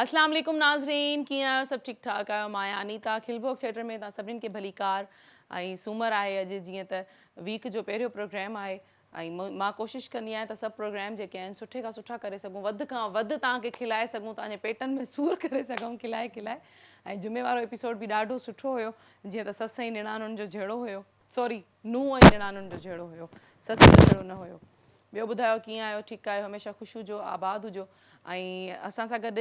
اسلام عليڪم ناظرين ڪيئن آهيو سڀ ٺيڪ ٺاڪ آهيو مان آهيان انيتا کل ڀوڳ ٿيٽر ۾ توهان سڀني کي ڀليڪار ۽ سومر آهي اڄ جيئن ته ويڪ جو پهريون پروگرام آهي ۽ مان ڪوشش ڪندي آهيان ته سڀ پروگرام جيڪي آهن سٺي کان سٺا ڪري سگهون وڌ کان وڌ توهان کي کلائي سگهون توهان جي پيٽن ۾ سور ڪري سگهون کلائي کلائي ۽ جمعي وارو ايپيسوڊ به ڏاڍو سٺو هيو جيئن ته سس ۽ نڻانن جو جهيڙو هيو سوري نونهن ۽ نڻانهن جو جهيڙو هيو سس جو جهيڙو نه هيو ٻيو ٻڌايو ڪيئن آهيو ٺيڪ آهيو هميشه خوش هجو آباد هجو ۽ اسان سان گڏ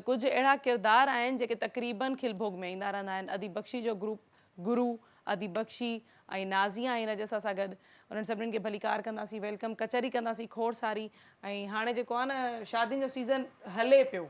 ڪجهه اهڙا ڪردار آهن جيڪي تقريبن کل ڀوڳ ۾ ايندا رهندا آهن اديب بخشي جو گروپ گرو اديب بخشي ۽ نازيا آهن اڄ اسان سان گڏ انهن سڀني کي ڀليڪار ڪنداسين ويلڪم ڪچهري ڪنداسين کوڙ ساري ۽ هاڻي جيڪو آهي نه شادين جو سيزن هلي پيو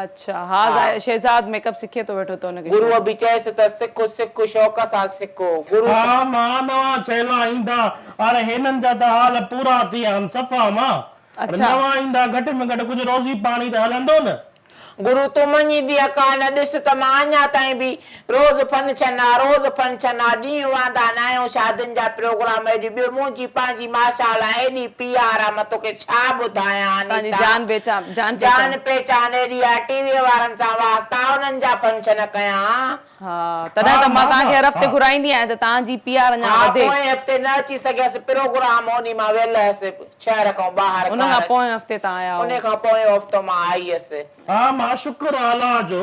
اڇا ها ها. شهزاد ميڪ اپ سکي ٿو ويٺو ته ان کي گروء شوق به چيس ته سک سک شوق سان سک گرو ها چيو. مان نوان ڇيلا ايندا ار هينن جا ته حال پورا ٿي آن صفا مان ار اڇا. نوان ايندا گهٽ ۾ گهٽ ڪجهه روزي پاڻي ته هلندو نه. گرو تون مڃيندينء ڪا نه ڏس ته مان اڃا تائين به روز فن ڇن آ روز فن ڇن آ ڏينهن واندا ناهيون شادين جا پروگرام ايڏي ٻيو منهنجي پنهنجي ماشا الله ايڏي پي آر آ مان توکي ڇا ٻڌايان انيتا جان پهچان جان پهچان ايڏي آ ٽي وي وارن سان واسطا انهن جا فن ڇن ڪيان. ها تڏهن ته مان توهان کي هر هفتي گهرائيندي آهيان ته توهان جي پي آر اڃان وڌي. ها پوئين هفتي نه اچي سگهيس پروگرام انهي مان ويل هيس شهر کان ٻاهر ان کان پوئين هفتي تان آيا هو. انهي کان پوئين هفتو مان آئي هيس. ها مان شڪر آلا جو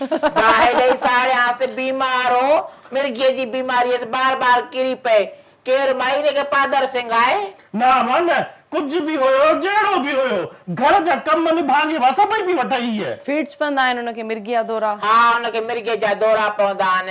گاهي ڏئي ساڙيانس. بيمار هو. مرگيء جي بيماريء سان بار بار ڪري پئي. ڪير مئي هن کي پادر سنگهائي؟ نه امان نه. ڪجهه به هيو، جهڙو به هيو. گهر جا ڪم نڀاڳي مان سڀئي پئي وٺئي هيء. فيڊز پوندا آهن هن کي مرگيء جا دورا. ها هن کي مرگيء جا دورا پوندا آهن.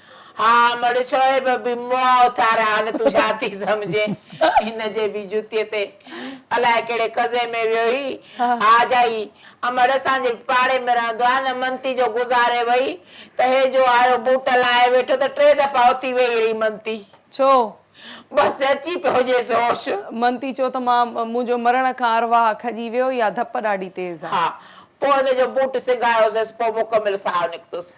ها مڙ شعيب به مئا اٿاريا هان تون ڇا ٿي سمجهين هن جي به جتي تي الاء ڪهڙي قضي ۾ ويو هي ها جائي امڙ اسان جي پاڙي ۾ رهندو آهي نه منتي جو گذاري وئي ته هي جو آيو بوٽ لاهي ويٺو ته ٽي دفعا اٿي ويهي رهي منتي ڇو؟ بس اچي پيو هجيس هوش. منتي چيو ته مان منهنجو مرڻ کان ارواح کڄي ويو يا ڌپ ڏاڍي تيز آهي. ها پوء هن جو بوٽ سگهايوسس پوء مڪمل ساهه نڪتس.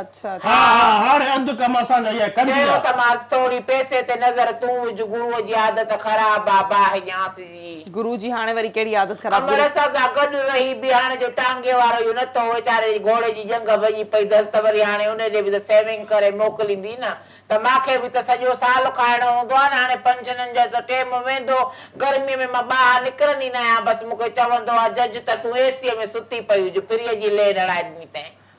اڇا ها ها ها هاڻي اڌ ڪم اسان جا اها ڪندي چيو ته ماس ٿوري پئسي تي نظر تون وجهه گروء جي عادت خراب آ باهه ڄاس جي. گرو جي هاڻي وري ڪهڙي عادت خراب امڙ گرو. اسان سان گڏ رهي به هاڻي جو ٽانگي وارو اهو نه ٿو ويچاري جي گهوڙي جي ڄنگهه ڀڄي پئي ڌس ته وري هاڻي ان ڏي به ته سيونگ ڪري موڪليندي نه ته مان کي به ته سڄو سال کائڻو هوندو آ نه هاڻي پنشنن جو ته ٽيم ويندو گرمي ۾ مان ٻاهر نڪرندي نه آهيان بس مون کي چوندو آ جج ته تون اي سيء ۾ ستي پئي هج فريء جي لينهه لڙائي ڏني تئين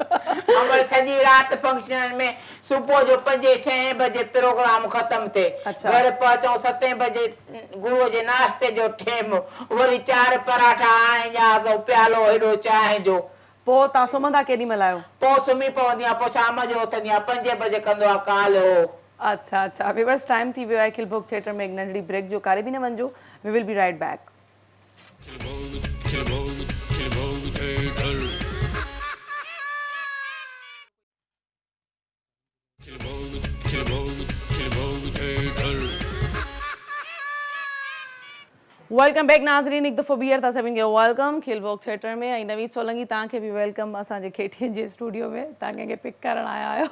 امڙ سڄي رات فنڪشنن ۾ صبح جو پنجين ڇهين بجي پروگرام ختم ٿي گهر پهچون ستين بجي گرو جي ناشتي جو ٽيم وري چار پراٺا آڻي ڄاس ۽ پيالو هيڏو چانهه جو. پوء توهان سمهندا ڪيڏي مهل آهيو؟ پوء سمهي پوندي آهيان پوء شام جو اٿندي آهيان پنجين بجي ڪندو آهيان ڪال هو. اڇا اڇا ويورز ٽائيم ٿي ويو آهي کلڀوگ ٿيٽر ۾ هڪ ننڍڙي بريڪ جو ڪاري به نه وڃجو we will be right back. Welcome back ناظرين هڪ دفعو ٻيهر توهان سڀني کي ويلڪم کيل ڀوڳ ٿيٽر ۾ ۽ نويد سولنگي توهان کي به ويلڪم اسان جي کيٽين جي اسٽوڊيو ۾ توهان ڪنهن کي پڪ ڪرڻ آيا آهيو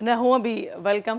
نه هونء به ويلڪم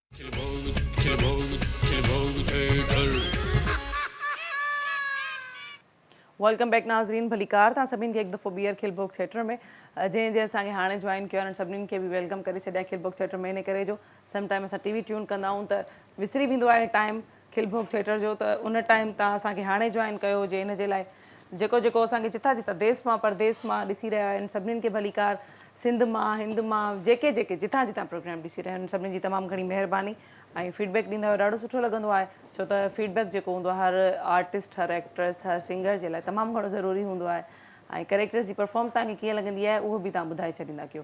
ويلڪم بيڪ ناظرين ڀليڪار توهان سڀني کي هڪ دفعو ٻيهر کل ڀوڳ ٿيٽر ۾ جنهن جنهن اسان کي هاڻي جوائن ڪيو آهي سڀني کي به ويلڪم ڪري ڇڏيا کل ڀوڳ ٿيٽر ۾ ان ڪري جو سم ٽائيم اسان ٽي وي ٽيون ڪندا آهيون ته وسري ويندو آهي ٽائيم کل ڀوڳ ٿيٽر جو ته ان ٽائيم تان اسان کي هاڻي جوائن ڪيو هجي ان جي لاء جيڪو جيڪو اسان کي جتان جتان ديس مان پرديس مان ڏسي رهيا آهن سڀنين کي ڀليڪار سنڌ مان هند مان جيڪي جيڪي جتان جتان پروگرام ڏسي رهيا آهن سڀنين جي تمام گهڻي مهرباني ۽ فيڊبيڪ ڏيندا آهيو ڏاڍو سٺو لڳندو آهي ڇو ته فيڊبيڪ جيڪو هوندو آهي هر آرٽسٽ هر ايڪٽرس هر سنگر جي لاء تمام گهڻو ضروري هوندو آهي ۽ ڪريڪٽرس جي پرفارم تان کي ڪيئن لڳندي آهي اهو به تان ٻڌائي ڇڏيندا ڪيو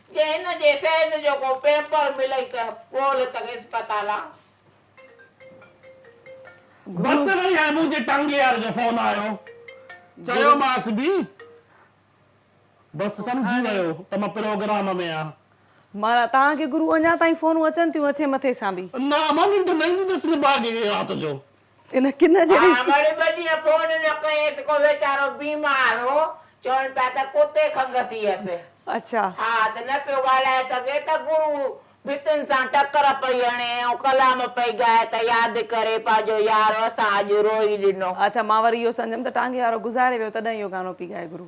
جي هن جي سيز جو ڪو پيپر ملئي ته پول ته اسپتال آ. گهرس وري هيبو جي ٽنگ يار جو فون آيو. چيومانس به بس سمجهي ويو ته مان پروگرام ۾ آ. مان، توهان کي گرو اڃا تائين فونون اچن ٿيون اڇي مٿي سان به. نه امان ننڊ نه ايندي اٿس نڀاڳي رات جو. ان ڪن جهڙي. ها مڙي ٻه ڏينهن فون نه ڪيس ڪو ويچارو بيمار هو چون پيا ته ڪتي کنگهه ٿيس. اڇا. ها ته نه پيو ڳالهائي سگهي ته گرو ڀتين سان ٽڪر پئي هڻي ۽ ڪلام پئي ڳائي ته ياد ڪري پنهنجو يار اسان اڄ روئي ڏنو. اڇا مان وري اهو سمجهيم ته ٽانگي وارو گذاري ويو تڏهن اهو گانو پئي ڳائي گرو.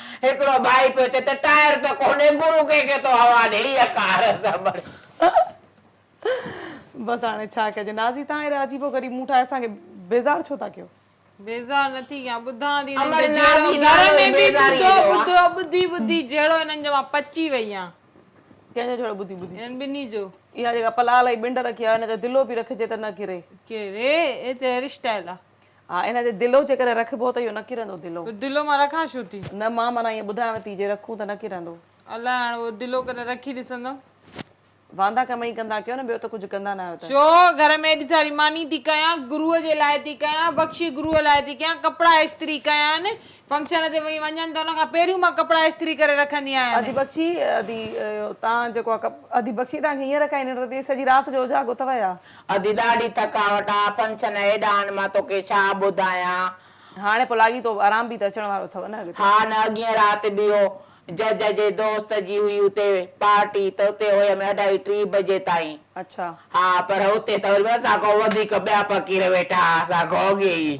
هڪڙو ڀائي پيو چئي ته ٽائر ته ڪونهي گرو ڪنهن کي ٿو هوا ڏي هيء ڪار اسان بڻي. بس هاڻي ڇا ڪجي. نازي تان اهڙا عجيب و غريب مون ٺاهي اسان کي بيزار ڇو ٿا ڪيو. بيزار نه ٿي ڪيان ٻڌان ٿي هنن جو جهيڙو گهر ۾ به ٻڌو ٻڌو ٻڌي ٻڌي جهيڙو هنن جو مان پچي وئي آهيان. ڪنهن جو جهيڙو ٻڌي ٻڌي. هنن ٻنهي جو. اها جيڪا پلال ۽ ٻنڊ رکي آهيو هن جو دلو به رکجي ته نه ڪري. ڪري اي ته هيئر اسٽائيل آ. ها ان تي دلو جيڪڏهن رکبو ته اهو نه ڪرندو دلو. دلو مان رکان ڇو ٿي. نه مان معنيٰ ائين ٻڌايانو ٿي جي رکون ته نه ڪرندو. الاء هاڻ اهو دلو ڪڏهن رکي ڏسندم. واندا ڪم ئي ڪندا ڪيو نه ٻيو ته ڪجهه ڪندا نه آهيو ته. ڇو گهر ۾ ايڏي ساري ماني ٿي ڪيان گروء جي لاء ٿي ڪيان بخشي گروء لاء ٿي ڪيان ڪپڙا استري ڪيان فنڪشن تي وئي وڃن ته ان کان پهريون مان ڪپڙا استري ڪري رکندي آهيان. ادي بخشي ادي تان جيڪو آ ڪپ ادي بخشي تان کي هينئر کان ئي ننڊ نٿي اچي سڄي رات جو اجاڳو اٿئو يا. ادي ڏاڍي ٿڪاوٽ آ. فنڪشن هيڏانهن مان توکي ڇا ٻڌايان. هاڻي پوء لاڳي تو آرام به ته اچڻ وارو اٿو نه اڳتي. ها نه اڳين رات به هو جج جي دوست جي هئي اتي پارٽي ته اتي هيم اڍائي ٽي بجي تائين. اڇا. ها پر اتي ته وري به اسان کان وڌيڪ ٻيا فقير ويٺا ها اسان کان اڳي ئي.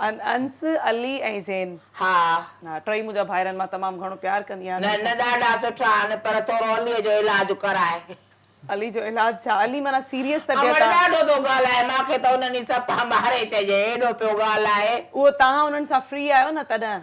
انس، علي ۽ زين. ها. ها ٽئي منهنجا ڀائر آهن مان تمام گهڻو پيار ڪندي آهيان انهن سان. نه ڏاڍا سٺا آهن پر ٿورو علي جو علاج ڪرائي. علي جو علاج ڇا علي معنيٰ سيريس طبيعت آ. امڙ ڏاڍو ٿو ڳالهائي مانکي ته انهن جي سپا ماري چئجي ايڏو پيو ڳالهائي. اهو تهان انهن سان فري آهيو نه تڏهن.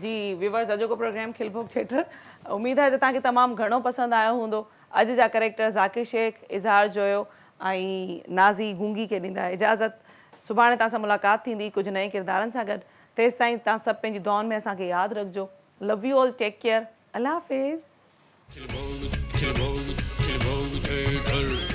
جي ويورز اڄوڪو پروگرام کل ڀوڳ ٿيٽر اميد آهي ته توهان کي تمام گهڻو پسند آيو هوندو اڄ جا ڪريڪٽر ذاڪر شيخ اظهار جويو ۽ نازي گونگي کي ڏيندا اجازت سڀاڻي توهان سان ملاقات ٿيندي ڪجهه نئين ڪردارن سان گڏ تيستائين توهان سڀ پنهنجي دعائن ۾ اسان کي ياد رکجو love you all take care الله حافظ. کل ڀوڳ کل ڀوڳ کل ڀوڳ ٿيٽر.